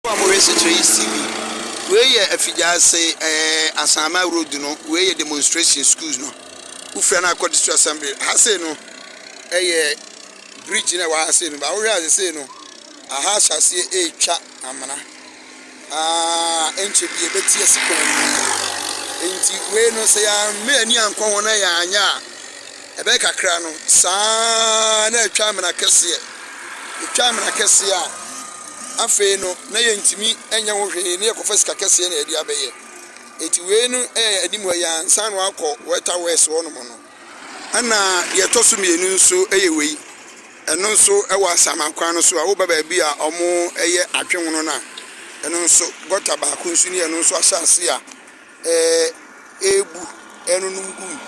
Mo a mohwɛ sekyerɛ yi see me. Wei yɛ Afigyaase ɛɛ Asaama road no, wei yɛ demonstration schools no. Wofira no akɔ district assembly. Ha sei no ɛyɛ bridge na ɛwɔ ha sei no, ba wohwɛ a sei no aha ahyɛ aseɛ ɛretwa amena. Haa nkyɛ bi ɛbɛte asi kwan no mu. Nti wei no sɛ yɛamme ani ankɔ ho na yɛanyɛ a ɛbɛyɛ kakra no saa na ɛtwa amena kɛseɛ. Ɛtwa amena kɛseɛ a. Afei no, na yɛntumi nyɛ ho hwee na yɛkɔfa sika kɛseɛ na yɛde abɛyɛ. Enti wei no yɛ anim hɔ yi ara, ansa na wɔakɔ Weta West hɔnom no. Ɛna deɛ ɛtɔ so mmienu nso yɛ wei, ɛno nso wɔ Asaman kwan no so a, woba baabi a wɔyɛ adwenwono no a, ɛno nso gɔta baako nso ni a ɛno nso ahyɛ ase a ɛrebu, ɛrenonom gu mu.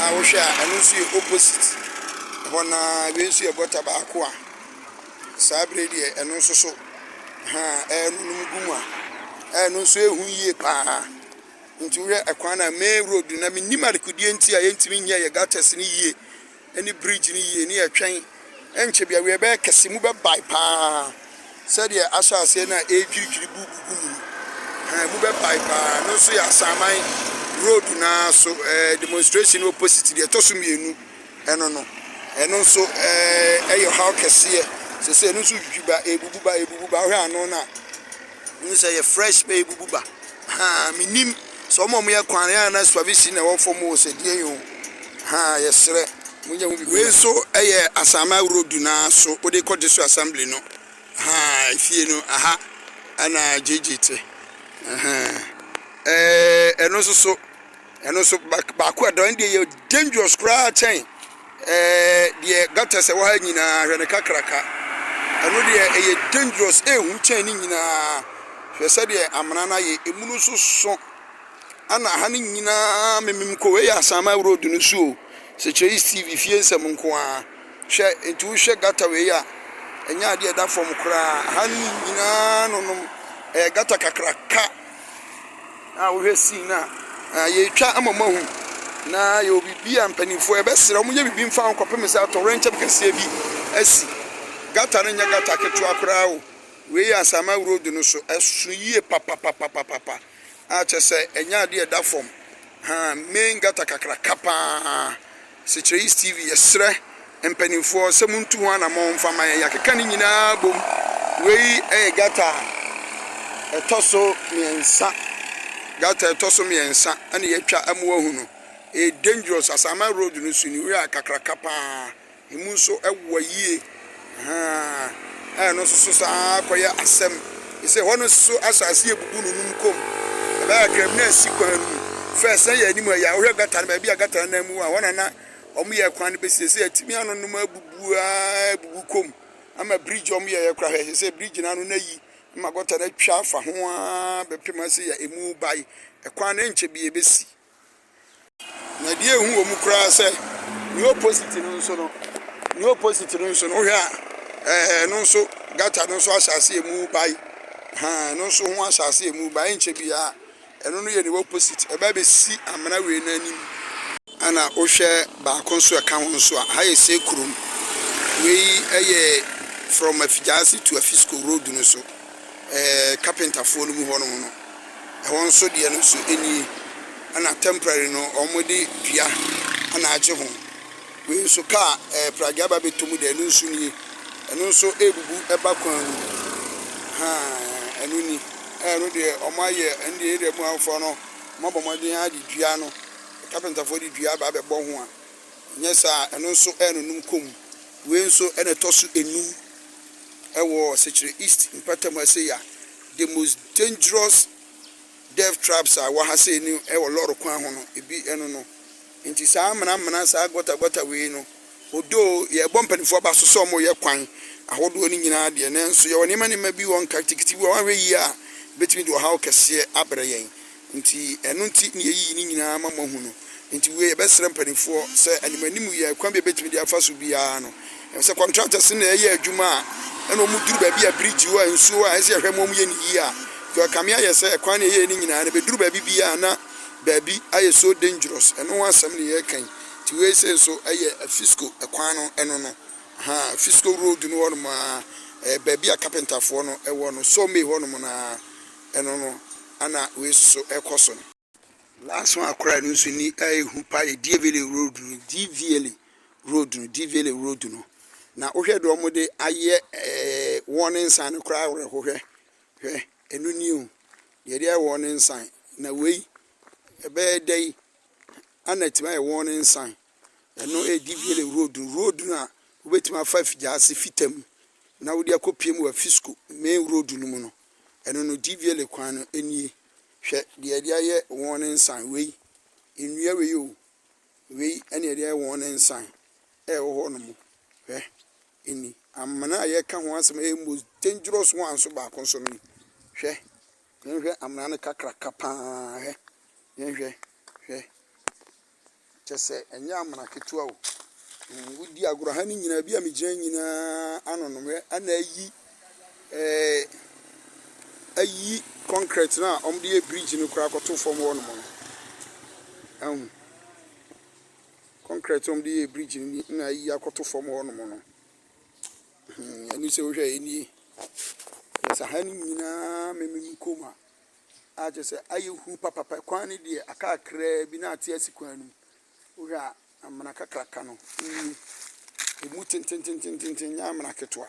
A wohwɛ a, ɛno nso yɛ opposite hɔ no ara, wei nso yɛ gɔta baako a. Saa bere yi deɛ, ɛno nso so, haa, ɛrenonom gu mu a, ɛno nso yɛ hu yie pa ara. Nti wohwɛ ɛkwan no a, main road no, na mennim adekodeɛ nti a yɛntumi nyɛɛ yɛ gutters no yie ne bridge no yie, ne yɛtwɛn ɛnkyɛ bi awie bɛyɛ kɛse mu bɛbae pa ara sɛdeɛ ahyɛ aseɛ no a ɛredwiridwiri bu gugu mu no, haa, emu bɛbae pa ara. Ɛno nso yɛ Asaman road no ara so, ɛɛ, demonstration ne opposite deɛ ɛtɔ so mmienu. Ɛno no, ɛno nso ɛyɛ ɔhaw kɛseɛ sɛsɛ ɛno nso twitwi ba ɛbubu ba ɛbubu ba wohwɛ ano no a wohu sɛ yɛ fresh bɛ ɛbubu ba ha menim sɛ ɔmo ɔmo yɛ kwan yɛ na swavisi na ɛwɔ fam o sɛ deɛ yi o ha yɛsrɛ mo nyɛ ho bi wei nso ɛyɛ asama road no ara so wode kɔ district assembly no ha efie no aha ɛna gyegye te ɛno nso so Ɛno nso baako a ɛda hɔ no deɛ ɛyɛ dangerous koraa kyɛn deɛ gutters a ɛwɔ ha nyinaa, hwɛ no kakraka. Ɛno deɛ ɛyɛ dangerous, ɛyɛ hu kyɛn ne nyinaa. Hwɛ sɛdeɛ amena no ayɛ, ɛmu no nso sõ. Ɛna ha no nyinaa memem kɔ, wei yɛ Asaman road no so o, Sekyerɛis TV fie nsɛm nko ara. Hwɛ, nti wohwɛ gutter wei a, ɛnyɛ adeɛ a ɛda fam koraa. Ha no nyinaa nonom, ɛyɛ gutter kakraka. A wohwɛ scene no a, yɛretwa ama moahu, na yɛwɔ biribi a mpanimfoɔ yɛbɛsrɛ wɔn nyɛ biribi mfa ho kɔpem sɛ atɔwrɛnkyɛm kɛseɛ bi asi. Gutter no nyɛ gutter ketewa koraa o, wei yɛ Asaman road no so, ɛso yie papapapapapa a kyerɛ sɛ ɛnyɛ adeɛ a ɛda fam, haa, main gutter kakraka pa ara. Sekyerɛis TV yɛsrɛ mpaninfoɔ sɛ montu ho anamɔn mfa ma yɛn yɛakeka ne nyinaa bom wei yɛ gata a ɛtɔ so mmiɛnsa gata ɛtɔ so mmiɛnsa ɛna yɛatwa ɛmo ahu no ɛyɛ dangerous asaman road no so ne wura kakraka paa ɛmu nso ɛwoa yie. Ahaa, ɛno nso so saa ara kɔyɛ asɛm. Ɛsɛ sɛ hɔ no nso so asase yɛ bubu no num kɔ mu. Ɛbɛyɛ a kram no ansi kwan no mu. Fɛ sɛ yɛn anim ha yi a, wohwɛ gata no baabi a gata no nam mu a, hɔ na na wɔyɛ kwan no bɛsi. Ɛsɛ sɛ atumi ano no mu abubu ara abubu kɔ mu ama bridge a wɔyɛeɛ koraa hwɛ. Ɛsɛ sɛ bridge no ano no ayi ma gɔta no atwa afa ho ara bɛpem sɛ yɛ emu bae. Ɛkwan no nkyɛ biara ɛbɛsi. Na deɛ ɛhu wɔ mu koraa sɛ nea opposite no nso no, nea opposite no nso no wohwɛ a ɛɛ ɛno nso gutter no nso ahyɛ aseɛ mu bae. Haa ɛno nso ho ahyɛ aseɛ mu bae nkyɛ biara ɛno no yɛ nea opposite ɛbɛ abɛsi amena wei no anim. Ɛna wohwɛ baako nso a ɛka ho nso a ha yɛ Sekurom. Wei yɛ from Afigyaase to Afisco road no so. ɛɛ kapentafoɔ no mu hɔ nom no, ɛhɔ nso deɛ no nso ɛni, ɛna temporary no wɔn de dua ɛna agye ho, wei nso kaa ɛɛ pragea ba bɛtɔ mu deɛ ɛno nso nie, ɛno nso ɛrebubu ɛba kwan mu, haa ɛno ni, ɛɛ ɛno deɛ wɔn ayɛ ɛno deɛ area mu afoɔ no wɔn abɔ mmɔden ara de dua no, kapentafoɔ de dua aba abɛbɔ ho a, nyɛ saa ɛno nso ɛrenonum kɔ mu, wei nso ɛna ɛtɔ so ɛnum. ɛwɔ Sekyere East mpɛtɛm ha sei a, the most dangerous death traps a ɛwɔ ha sei no ɛwɔ lɔre kwan ho no, ebi ɛno no. Nti saa amena amena, saa gɔta gɔta wei no, although yɛbɔ mpanimfoɔ aba so sɛ wɔyɛ kwan ahodoɔ no nyinaa deɛ, nanso yɛwɔ nneɛma nneɛma bi wɔ nkatikiti bi wɔ hɔ a wɔanhwɛ yie a, ɛbɛtumi de ɔhaw kɛseɛ abrɛ yɛn. Nti ɛno nti na yɛayiyi ne nyinaa ama moahu no. Nti wiei yɛbɛsrɛ mpaninfoɔ sɛ animanim yɛ kwan bi a yɛbɛtumi de afa so biara no. Ɛfiri sɛ contractors no na yɛyɛ adwuma a ɛna wɔn duru baabi a bridge wɔ a nsuo wɔ a ɛsɛ yɛhwɛ ma wɔn yɛ no yie a Joel Kame ayɛ sɛ ɛkwan na yɛyɛɛ no nyinaa no bɛduru baabi biara na baabi ayɛ so dangerous. Ɛno ho asɛm na yɛreka yi. Nti wei sei nso ɛyɛ Afisco kwan no ɛno no ahaa Afisco road no hɔ nom ara ɛyɛ baabi a carpenterfoɔ no ɛwɔ no sawmay hɔ nom no ara. ɛno no ana wei soso ɛkɔ so no. Last one koraa ɛno nso ni a ɛhu paa yɛ Dievele road no, Diviele road no, Diviele road no. Na wohwɛ deɛ wɔn de ayɛ ɛɛ wɔn nsan no koraa awerɛho hwɛ hwɛ ɛno ni o deɛ de ayɛ wɔn nsan na wei ɛbɛyɛ dɛ yi ana ɛtumi ayɛ wɔn nsan ɛno ɛyɛ Diviele road no road no a wobɛtumi afa afigya ase fita mu na wode akɔ pie mu wɔ afisco main road no mu no. Ɛno no Dvla kwan no nie. Hwɛ deɛ yɛde ayɛ wɔn ne nsa wei, nnua wei o, wei ɛne yɛde ayɛ wɔn ne nsa ɛwɔ hɔ nom. Hwɛ ni amena a yɛka ho asɛm ɛyɛ most dangerous one nso baako nso no ni. Hwɛ, yɛnhwɛ amena no kakraka paa, hwɛ, yɛnhwɛ, hwɛ. Kyɛ sɛ ɛnyɛ amena ketewa o. Mm, wodi agorɔ ha no nyinaa, bi a megyina nyinaa anonom. Hwɛ, ana ayi, ɛɛ, ayi kɔnkrɛt no a wɔde yɛ bridge no koraa kɔto fam hɔnom no. Ɛhu. Kɔnkrɛt a wɔde yɛ bridge no ni na ayi akɔto fam hɔnom no. Hmm, ɛno sɛ wohwɛ ɛnie. Kyɛ sɛ ha no nyinaa memem kɔm a. a kyerɛ sɛ ayɛ hu papapa. Kwan no deɛ aka kakraa bi na ate asi kwan no mu. Wohwɛ a, amena kakraka no nie. Ɛmu tententententen, ɛnyɛ amena ketewa.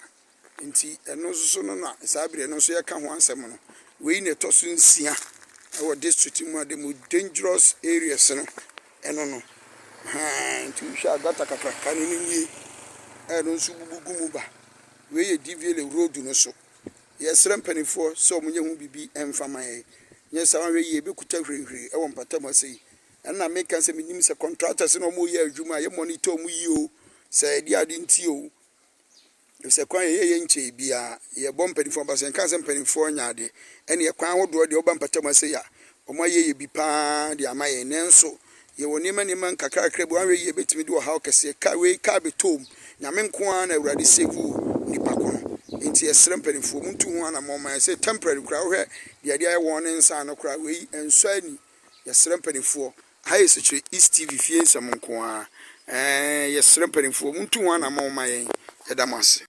Nti ɛno nso so no na saa berɛ no nso yɛka ho asɛm no. Wei na ɛtɔ so nsia wɔ district mu a the most dangerous areas no ɛno no. Haa, nti wohwɛ a gata kakraka no no nie. Ɛno nso bubu gu mu ba. Wei yɛ Diviele road no so. Yɛsrɛ mpanimfoɔ sɛ wɔnyɛ ho biribi mfa ma yɛn, nyɛ saa a wɔanhwɛ yie ɛbɛkuta hwirihwiri wɔ mpata mu ase yi. Ɛno na meka sɛ menim sɛ contractors na wɔyɛ adwuma a yɛ monitor wɔn yie oo, sɛ ɛdeɛ ade nti oo, efisɛ kwan a yɛyɛ yɛ nkyɛɛ biara, yɛbɔ mpanimfoɔ mpaeɛ, sɛ nka sɛ mpanimfoɔ nyɛ adeɛ ɛneɛ kwan ahodoɔ deɛ woba mpata mu ase yi a, wɔayɛ yɛ bi pa ara de ama yɛn, nanso Yɛwɔ nneɛma nneɛma nkakrakra bi, wanhwɛ yie ɛbɛtumi de ɔhaw kɛseɛ, car wei car bɛtɔɔm, Nyame nko ara na Awurade save wo nipa ko no, enti yɛsrɛ mpaninfoɔ montu ho anamɔn ma yɛn, sɛ temporary koraa wohwɛ deɛ ɛde ayɛ wɔn ne nsa ano koraa wei ɛnsɔ ani, yɛsrɛ mpaninfoɔ. Aha yɛ Sekyerɛ East TV fie nsɛm nko ara, ɛɛn yɛsrɛ mpaninfoɔ montu ho anamɔn ma yɛn, yɛda mo ase.